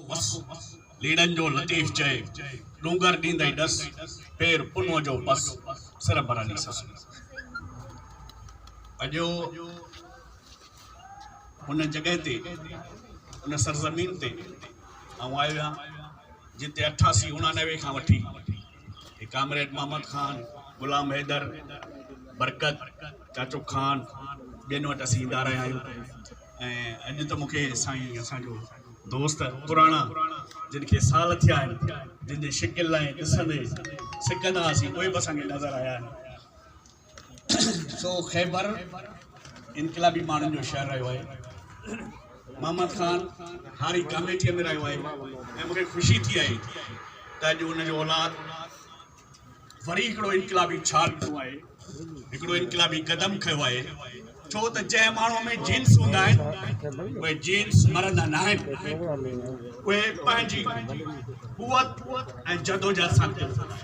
وس، ليڙن جو لطيف چئي، ڏونگر ڏيندئي ڏس، پير پنهون جو پس، سر برهني سس ۾. اڄ ان جڳهه تي، ان سرزمين تي آئون آيو آهيان، جتي اٺاسي اڻانوي کان وٺي هي ڪامريڊ محمد خان، غلام حيدر، برڪت، چاچو خان، ٻين وٽ اسين ايندا رهيا آهيون ۽ اڄ ته مون کي سائين اسان جو دوست پراڻا جن کي سال ٿيا آهن، جن جي شڪل ۽ ڏسندي سڪندا هئاسين، اهي به اسان کي نظر آيا آهن. سو خيبر انقلابي ماڻهن جو شهر رهيو آهي. محمد خان هاري ڪاميٽيء ۾ رهيو آهي ۽ مون کي خوشي ٿي آهي ته اڄ ان جو اولاد وري هڪڙو انقلابي ڇال ڏنو آهي، هڪڙو انقلابي قدم کنيو آهي، ڇو ته جنهن ماڻهوء ۾ جينز هوندا آهن، اهي جينز مرندا ناهن، اهي پنهنجي قوت ۽ جدوجهد سان ڪرندا آهن.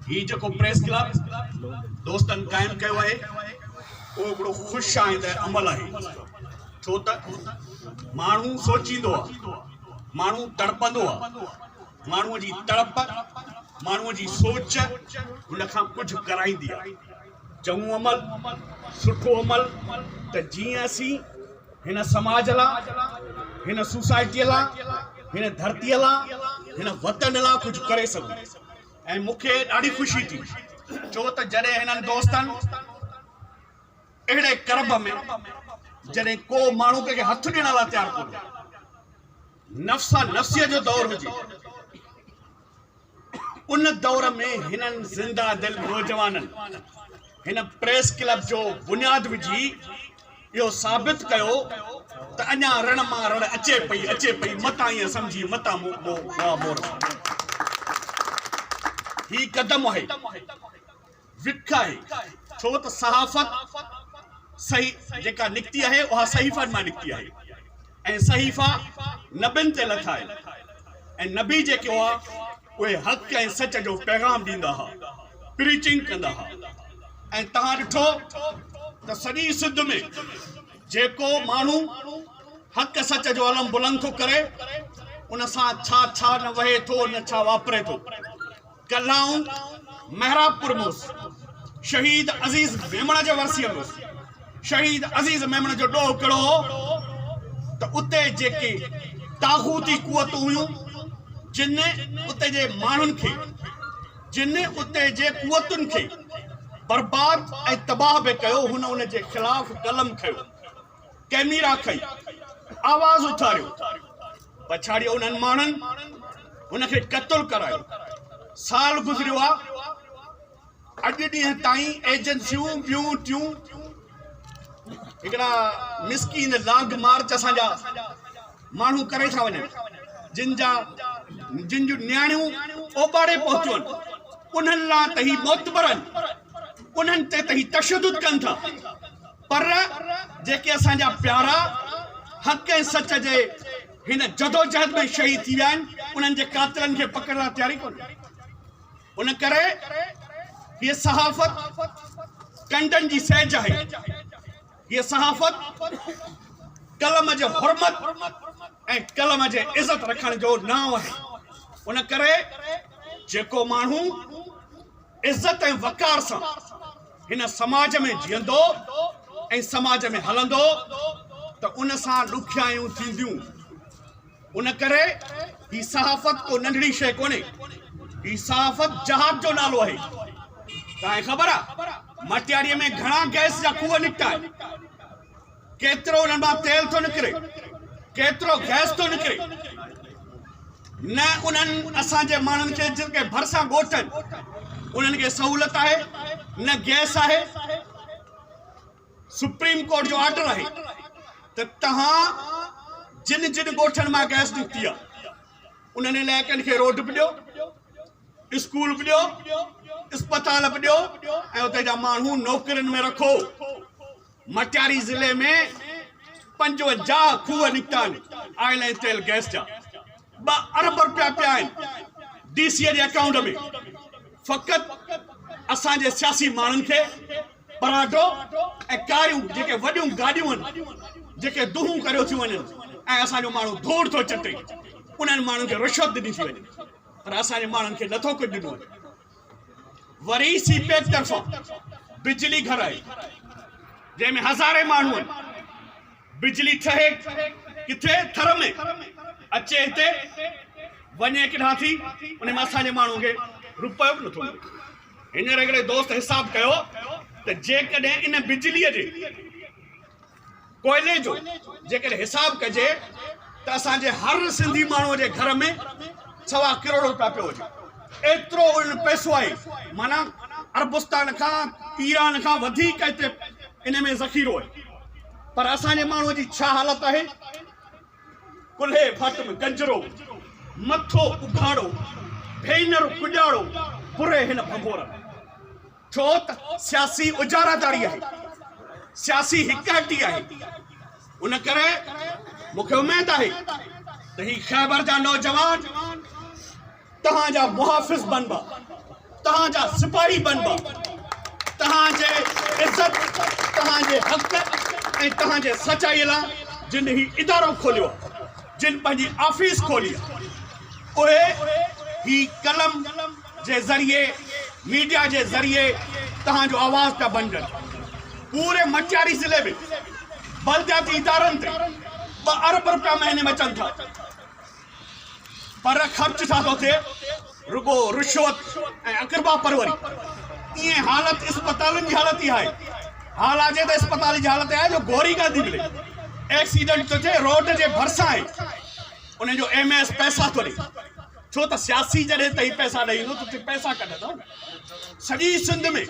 هي جيڪو پريس ڪلب دوستن قائم ڪيو آهي، اهو هڪڙو خوش آئنده عمل آهي، ڇو ته ماڻهو سوچيندو آهي، ماڻهو تڙپندو آهي. ماڻهوء جي تڙپ، ماڻهوء جي سوچ هن کان ڪجهه ڪرائيندي آهي. چڱو عمل، سٺو عمل ته جيئن اسين هن سماج لا، هن سوسائٽيء لا، هن ڌرتيء لا، هن وطن لا ڪجهه ڪري سگهون ۽ مون کي ڏاڍي خوشي ٿي ڇو ته جڏهن هنن دوستن اهڙي ڪرب ۾ جڏهن ڪو ماڻهو ڪنهن کي هٿ ڏيڻ لا تيار ڪونهي. نفسا نفسيء جو دور هجي، ان دور ۾ هنن زنده دل نوجوانن هن پريس ڪلب جو بنياد وجهي اهو ثابت ڪيو ته اڃا رڻ مان رڙ اچي پئي اچي پئي متان ائين سمجهي متان مور هي قدم آهي وک آهي، ڇو ته صحافت صحي جيڪا نڪتي آهي اها صحيفن مان نڪتي آهي ۽ صحيفا نبين تي لکا آهن ۽ نبي جيڪي هئا اهي حق ۽ سچ جو پيغام ڏيندا ها پريچنگ ڪندا ها ۽ تهان ڏٺو ته سڄي سنڌ ۾ جيڪو ماڻهو حق سچ جو علم بلند ٿو ڪري ان سان ڇا ڇا نه وهي ٿو نه ڇا واپري ٿو. ڪلائون محراب پور موس شهيد عزيز ميمڻ جي ورسيء ۾ شهيد عزيز ميمڻ جو ڏوهه ڪهڙو هو ته اتي جيڪي طاغوتي قوتون هيون جن اتي جي ماڻهن کي جن اتي جي قوتن کي برباد ۽ تباهه به ڪيو هن ان جي خلاف قلم کنيو ڪئميرا کئي آواز اٿاريو پڇاڙيء انهن ماڻهن هن کي قتل ڪرايو سال گذريو آ اڄ ڏينهن تائين ايجنسيون ٻيون ٽيون هڪڙا مسڪين لاگ مارچ اسان جا ماڻهو ڪري ٿا وڃن جن جا جن جون نياڻيون اوٻاڙي پهتيون آهن انهن لا تهي معتبر آهن انهن تي تهي تشدد ڪن ٿا پر جيڪي اسان جا پيارا حق ۽ سچ جي هن جدوجهد ۾ شهيد ٿي ويا آهن، انهن جي قاتلن کي پڪڙڻ لاء تيار ئي ڪونهي. ان ڪري هيء صحافت ڪنڊن جي سيج آهي. هيء صحافت قلم جي حرمت ۽ قلم جي عزت رکڻ جو نانء آهي. ان ڪري جيڪو ماڻهو عزت ۽ وقار سان هن سماج ۾ جيئندو ۽ سماج ۾ هلندو ته ان سان ڏکيائيون ٿينديون ان ڪري هي صحافت ڪو ننڍڙي شيء ڪونهي هي صحافت جهاد جو نالو آهي تانکي خبر آهي مٽياريء ۾ گهڻا گئس جا کوهه نڪتا آهن ڪيترو انهن مان تيل ٿو نڪري، ڪيترو گئس ٿو نڪري، نه انهن اسان جي ماڻهن کي جيڪي ڀرسان ڳوٺ آهن انهن کي سهولت آهي نه گئس آهي، سپريم ڪورٽ جو آرڊر آهي ته توهان جن جن ڳوٺن مان گئس نڪتي آهي انهن علائقن کي روڊ به ڏيو، اسڪول به ڏيو، اسپتال به ڏيو ۽ اتي جا ماڻهو نوڪرين ۾ رکو. مٽياري ضلعي ۾ پنجونجاهه کوهه نڪتا آهن آئل ۽ تيل گئس جا ٻه ارب رپيا پيا آهن ڊي سي جي اڪائونٽ ۾ فقط اسان جي سياسي ماڻهن کي پراٽو ۽ ڪاريون جيڪي وڏيون گاڏيون آهن جيڪي دونهون ڪريو ٿيون وڃن ۽ اسان جو ماڻهو ڌوڙ ٿو چٽي انهن ماڻهن کي رشوت ڏني ٿي وڃي پر اسان جي ماڻهن کي نٿو ڪجهه ڏنو وڃي وري سي پيڪ طرفان بجلي گهر آئي جنهن ۾ هزارين ماڻهن بجلي ٺهي ڪٿي ٿر ۾ اچي هتي وڃي ڪيڏانهن ٿي ان ۾ اسان جي ماڻهو کي روپيو به نٿو ملي هينئر هڪڙي دوست حساب ڪيو ته جيڪڏهن ان بجليء جي ڪوئلي جو جيڪڏهن حساب ڪجي ته اسان جي هر سنڌي ماڻهوء جي گهر ۾ سوا ڪروڙ روپيا پيو هجي ايترو ان پئسو آهي معنيٰ عربستان کان ايران کان وڌيڪ هتي ان ۾ ذخيرو آهي پر اسان جي ماڻهوء جي ڇا حالت آهي ڪلهي ڀت ۾ گنجرو مٿو اگهاڙو ڀينر ڪڄاڙو پري هن ڀنڀور ۾ ڇو ته سياسي اجاراداري آهي، سياسي هڪايتي آهي، ان ڪري مون کي اميد آهي ته هي خيبر جا نوجوان توهان جا محافظ بنبا، توهان جا سپاهي بنبا، توهان جي عزت، توهان جي حق ۽ توهان جي سچائي لاء جن هي ادارو کوليو آهي، جن پنهنجي آفيس کولي آهي، اهي هي قلم جي ذريعي ميڊيا جي ذريعي تهان جو آواز پيا بنجن پوري منجهاري ضلعي ۾ بلدياتي ادارن تي ٻه ارب روپيا مهيني ۾ اچن ٿا پر خرچ ڇا ٿو ٿئي رڳو رشوت ۽ اقربا پروري ايئن حالت اسپتالن جي حالت اها آهي حال آجي ته اسپتال جي حالت آهي جو گوري ڪانه ٿي ملي ايڪسيڊنٽ ٿو ٿئي روڊ جي ڀرسان آهي ان جو ايم اي ايس پئسا ٿو ڏي ڇو ته سياسي جڏهن تئين پئسا ڏئي ايندو ته تون پئسا ڪڍندو نه سڄي سنڌ ۾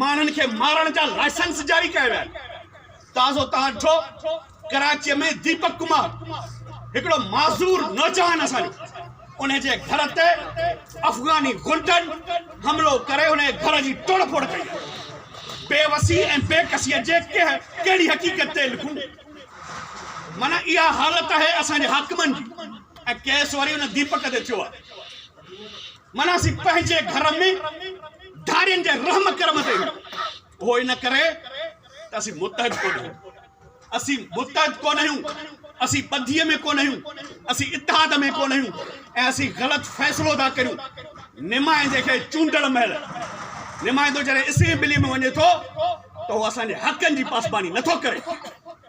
ماڻهن کي مارڻ جا لائسنس جاري ڪيا ويا آهن تازو تان ڏٺو ڪراچي ۾ ديپڪ ڪمار هڪڙو معذور نوجوان اسان ان جي گھر تي افغاني غنڊن حملو ڪري ان جي گھر جي ٽوڙ ڦوڙ ڪئي بيوسي ۽ بيڪسي جي ڪهڙي حقيقت تي لکون من اها حالت آهي اسان جي حاڪمن جي ۽ ڪيس وري ان ديپڪ تي ٿيو آهي من اسين پنهنجي گهر ۾ ڌارين جي رحم ڪرم تي اهو ان ڪري ته اسين متحد ڪونه آهيون اسين متحد ڪونه آهيون اسين ٻڌي ۾ ڪونه آهيون اسين اتحاد ۾ ڪونه آهيون ۽ اسين غلط فيصلو ٿا ڪريون نمائندي کي چونڊڻ مهل نمائندو جڏهن اسين ٻلي ۾ وڃي ٿو ته هو اسان جي حقن جي پاسباني نه ٿو ڪري،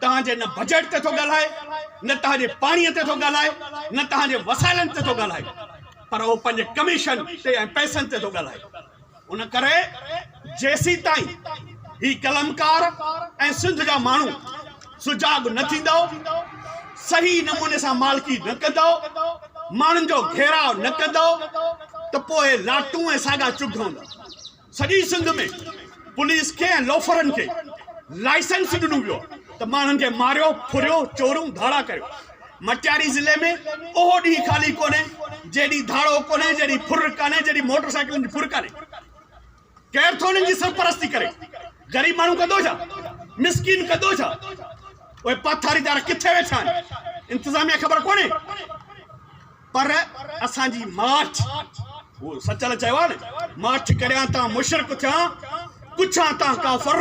توهان جي نه بجيٽ تي ٿو ڳالهائي، نه توهان جي پاڻي تي ٿو ڳالهائي، نه توهان جي وسائلن تي ٿو ڳالهائي پر هو پنهنجي ڪميشن تي ۽ پئسن تي ٿو ڳالهائي. ان ڪري جيسيتائين هي قلمڪار ۽ سنڌ جا ماڻهو سجاڳ نه ٿيندؤ، صحيح نموني سان مالڪي نه ڪندؤ، ماڻهن جو گهيراء نه ڪندؤ ته پوء لاٽون ۽ ساڳا چگهه هوندا. سڄي سنڌ ۾ پوليس کي ۽ لوفرن کي لائسنس ڏنو ويو ته ماڻهن کي ماريو ڦريو چورون ڌاڙا ڪريو مٽياري ضلعي ۾ اهو ڏينهن خالي ڪونهي جنهن ڏينهن ڌاڙو ڪونهي جنهن ڏينهن ڦر ڪانهي جنهن ڏينهن موٽر سائيڪلن جي ڦر ڪانهي ڪير ٿو انهن جي سرپرستي ڪري غريب ماڻهو ڪندو ڇا مسڪين ڪندو ڇا اهي پاٿاريدار ڪٿي ويٺا آهن انتظاميا خبر ڪونهي پر اسان جي ماٺ هو سچل چيو آهي نه ماٺ ڪريان تان مشرڪ ٿيان ڪڇان تان ڪافر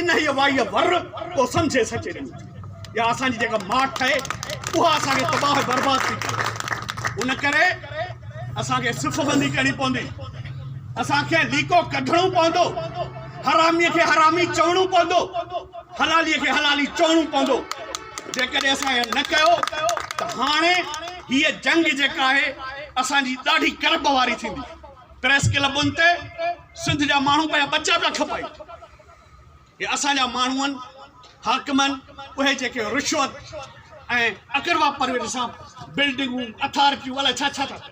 انهيء وائيء ور ڪو سمجهي سچي ڏنو ٿي يا اسان جي جيڪا ماٺ آهي اها اسان کي تباهه برباد ٿي ڪري ان ڪري اسان کي صف بندي ڪرڻي پوندي اسان کي ليڪو ڪڍڻو پوندو حرامي کي حرامي چوڻو پوندو حلالي کي حلالي چوڻو پوندو جيڪڏهن اسان اهو نه ڪيو ته هاڻي هيء جنگ جيڪا آهي اسان جي ڏاڍي ڪرب واري ٿيندي. پريس ڪلبن تي سنڌ جا ماڻهو پنهنجا ٻچا پيا کپائين. هي اسان جا ماڻهون حاڪمن اهي جيڪي رشوت ۽ اقربا پرويت سان بلڊنگون اٿارٽيون الاء ڇا ڇا ٿا ڪن.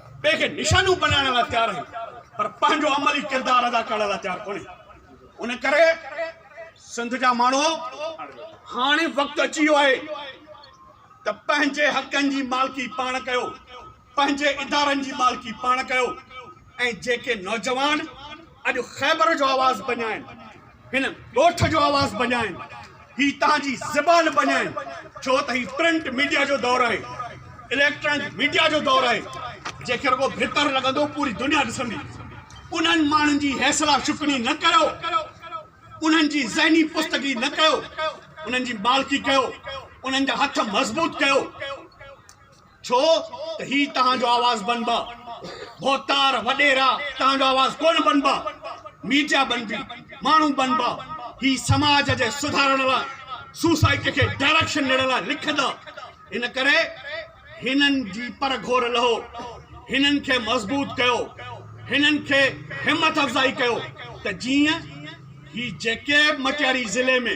ٻئي کي نشانو بنائڻ لاء تيار آهي پر پنهنجو عملي ڪردار ادا ڪرڻ لاء تيار ڪونهي ان ڪري سنڌ جا ماڻهو هاڻي وقت اچي ويو آهي ته پنهنجي حقن جي مالڪي پاڻ ڪيو پنهنجي ادارن جي مالڪي پاڻ ڪيو ۽ جيڪي نوجوان اڄ خيبر جو آواز بنيائين هن ڳوٺ جو آواز بنيائين هي تهان جي زبان بنيائين ڇو ته هي پرنٽ ميڊيا جو دور آهي اليڪٽرانڪ ميڊيا جو دور آهي جنهن کي رڳو بھتر لڳندو پوري دنيا ڏسندي انهن ماڻهن جي حيصلا شڪني نه ڪيو انهن جي ذهني پستگي نه ڪيو انهن جي مالڪي ڪيو انهن جا هٿ مضبوط ڪيو ڇو ته هي توهان جو آواز بنبا، ڀوتار، وڏيرا توهان جو آواز ڪونه بنبا، ميڊيا بنبي، ماڻهو بنبا، هي سماج جي سڌارڻ لاء، سوسائٽي کي ڊائريڪشن ڏيڻ لاء لکندا، ان ڪري هنن جي پر گهور لهو، هنن کي مضبوط ڪيو، هنن کي همٿ افزائي ڪيو ته جيئن هي جيڪي به مٽياري ضلعي ۾.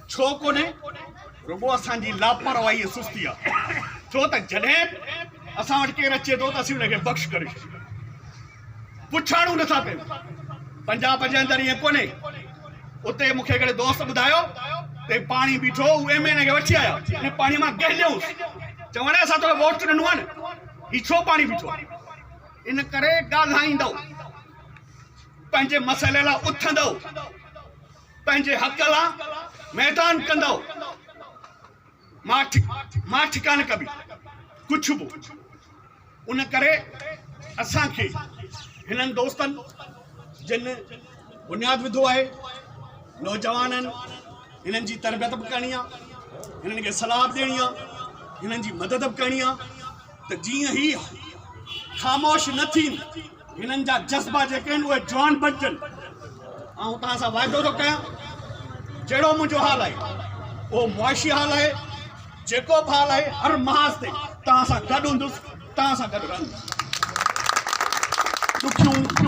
ڇو ڪونهي؟ رڳو اسان جي لاپرواهي ۽ سستي آ، ڇو ته جڏهن به اسان وٽ ڪير اچي ٿو ته اسين ان کي بخش ڪري ڇڏيون ٿا، پڇاڙون نه ٿا ڪيون. پنجاب جي اندر ائين ڪونهي، اتي مون کي هڪڙي دوست ٻڌايو ته هي پاڻي بيٺو هو، هو ايم اين اي کي وٺي آيا، ان پاڻي مان گهليائونس، چوڻ آيا اسان توکي ووٽ ڏنو آ نه، هي ڇو پاڻي بيٺو آ؟ ان ڪري ڳالهائيندؤ، پنهنجي مسئلي لاء اٿندؤ. پنهنجي حق لا ميدان ڪندؤ ماٺ ماٺ ڪانه ڪبي ڪڇ به ان ڪري اسان کي هنن دوستن جن بنياد وڌو آهي نوجوانن هنن جي تربيت به ڪرڻي آهي هنن کي صلاح به ڏيڻي آهي هنن جي مدد به ڪرڻي آهي ته جيئن هي خاموش نه ٿين هنن جا جذبا جيڪي آهن اهي جوان بنجن آئون توهان سان واعدو ٿو ڪيان جهڙو منهنجو حال آهي اهو معاشي حال آهي جيڪو به حال آهي هر محاذ تي توهان سان گڏ هوندس توهان سان گڏ رهندس